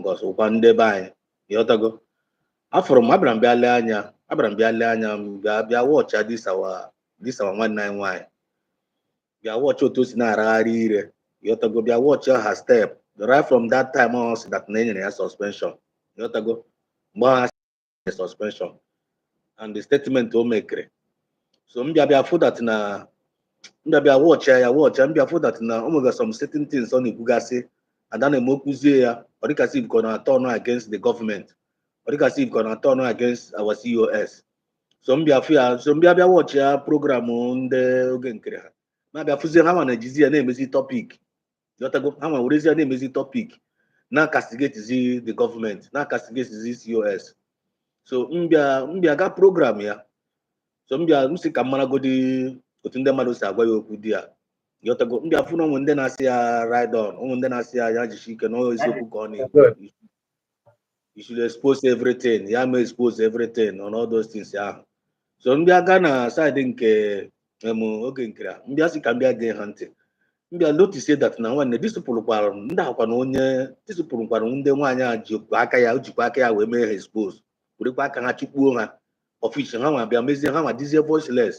because ọ wụkwa ndị be anyị ịghọtago afụrụ m abịara m bịa lee anya abịara m bịa lee anya m bịa bịa watch this our this our nwanne anyị nwaanyị bịa watch otu o si na-aragharị ire ịghọtago bịa watch her step right from that time ahụ ọ sị that na enyere ya suspension ịghọtago mgbe ahụ the suspension and the statement o mekere so m bịa bịa fụ that na m bịa bịa watch ya watch ya m bịa fụ that na o nwere some certain things ọ na-ekwugasị and a na-eme o kwuzie ya ọ dịka as if ka ọ na-aturn against the government ọ dịka as if ka ọ na-aturn against our COS so m bịa fụ ya so m bịa bịa watchịa program ndị Oge Nkere ha m bịa fụzie ha nwa na-ejizi ya na-emezi topic ịghọtago ha nwa werezie ya na-emezi topic na-acastigatezi the government na-acastigatezi COS so m bịa m bịa ga program ya so m bịa m sị ka m maragodi otu ndị mmadụ si agwa ya okwu there ịghọtago m bịa fụ na o nwe ndị na-asị ya ride on o nwe ndị na-asị ya ya jishi ike na ọ eziokwu ka ọ na-ekwu you should expose everything ya mee expose everything and all those things ahụ so m bịa ga na side nke em Oge Nkere m bịa sị ka m bịa gee ha ntị m bịa notice that na nwanne these people wụkwara ndị akwa na onye these people wụkwara ndị nwaanyị a jikwa aka ya o jikwa aka ya wee mee ha expose werekwa aka ha chụkpuo ha office ha nwa bịa mezie ha nwa dịzie voiceless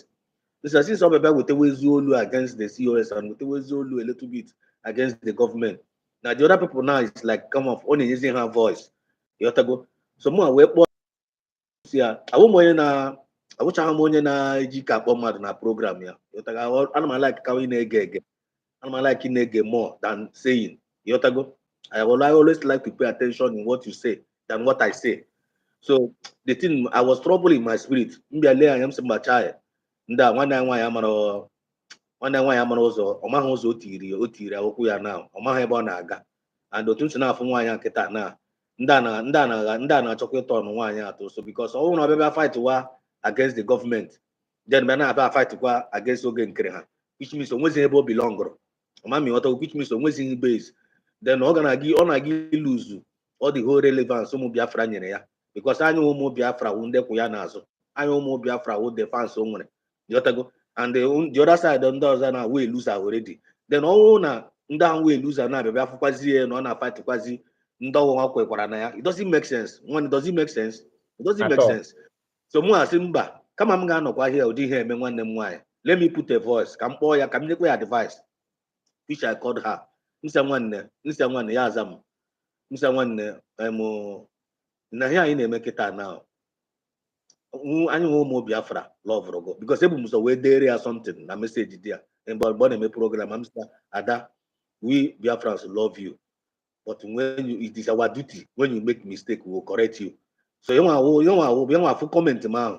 this is since ọ bịa wetawazie olu against the COS and wetawazie olu a little bit against the government now the other people now is like come off ọ na-enyezi ha voice ịghọtago so mụ wee kpọọ sị ya awụ m onye na awụchaghị m onye na-ejika akpọ mmadụ na program ya ịghọtago ana m alike ka onye na-ege ege ana m alike na-ege more than saying ịghọtago I will always like to pay attention in what you say than what I say so the thing I was trouble in my spirit m bịa lee anya m sị mba chai ndị a nwanne anyị nwaanyị amara nwanne nwaanyị amara ụzọ ọ maghị ụzọ o tiri o tiri akwụkwọ ya na ọ maghị ebe ọ na-aga and otu m si na-afụ nwaanyị a kịta na ndị a na- ndị a na-agha ndị a na-achọkwa ịturn on nwaanyị a too so because ọ bụrụ na ọ bịa fight wa against the government then bịa na-abịa fight kwa against Oge Nkere ha which means o nwezighị ebe o belongụrụ ama m ịghọta which means o nwezighị base then ọ ga na-aga ọ na-aga ilose all the whole relevance ụmụ biafra nyere ya because anyị ụmụ biafra wụ ndị kwụ ya n'azụ anyị ụmụ biafra wụ the fans o nwere ịghọtago and the, the other side ndị ọzọ na wee lose already then ọ wụ na ndị ahụ wee lose na-abịa bịa fụkwazi ya na ọ na-afightkwazi ndị ọ wụ ha kwekwara na ya it doesn't make sense nwanne it doesn't make sense it doesn't At make all. sense so mụ asị mba kama m ga-anọkwa here ụdị ihe a emee nwanne m nwaanyị let me put a voice ka m kpọọ ya ka m nyekwa ya advice which I called her m sị ya nwanne m sị ya nwanne ya aza m m sị ya nwanne em na ihe anyị na-eme kịta na anyịnwa ụmụ Biafra lọvụrụ gụ because ebu m ụzọ wee deere ya something na message there mgbe ọ na-eme program m sị Ada we Biafrans love you but when you it is our duty when you make mistake we will correct you so yanwa awụ yanwa awụ yanwa afụ comment m ahụ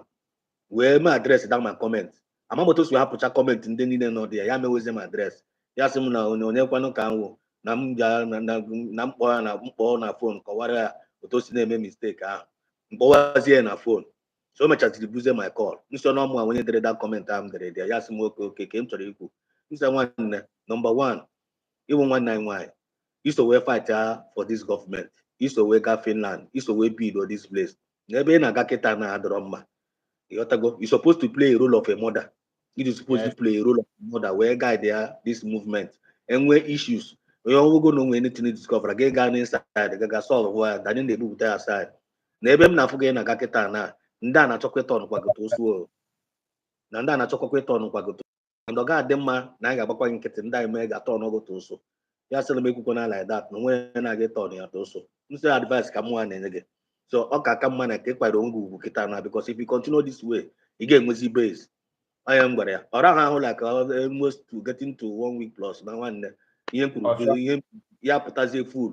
wee mee address that my comment ama m otu o si hapụcha comment ndị niile nọ there ya mewezie m address ya sị m na onye onye kwanụ ka m wụ na m ga na- na- na m kpọ ya na m kpọ na phone kọwara ya otu o si na-eme mistake ahụ m kpọwazie ya na phone so o mechaziri busy my call m sị na ọ mụwa onye dere that comment ahụ m dere there ya sị m okay okay ka m chọrọ ikwu m sị ya nwanne number one ị wụ nwanne anyị nwaanyị i so wee fightịa for this government i so wee gaa Finland i so wee bido this place n'ebe ị na-aga kịta na adịrọ mma ị ghọtago you supposed to play a role of a mother you supposed to play a role of a mother wee guide ya this movement e nwee issues onye ọgwụgwụ na o nwe anything ị discover gị gaa n'inside gị ga solve ya than ị na-ebupụta ya outside na ebe m na-afụ gị na-aga kịta na ndị a na-achọkwa ịturnkwa gị to ụsụ na ndị a na-achọkwa ịturnkwa gị and ọ ga-adị mma na anyị ga-agbakwa gị nkịtị ndị enemy ga-aturn gụ to ụsụ ya sịrị m ekwukwana like that na o nwe onye na-aga ịturn ya to ụsụ m sị advice ka mụnwa na-enye gị so ọ ka aka mma na ka ị kwara onwe gị ugwu kịta na because if you continue this way ị ga-enwezi base onye m gwara ya ọ rahụ ahụ like almost to getting to one week plus na nwanne ihe m kwuru ihe ya pụtazie full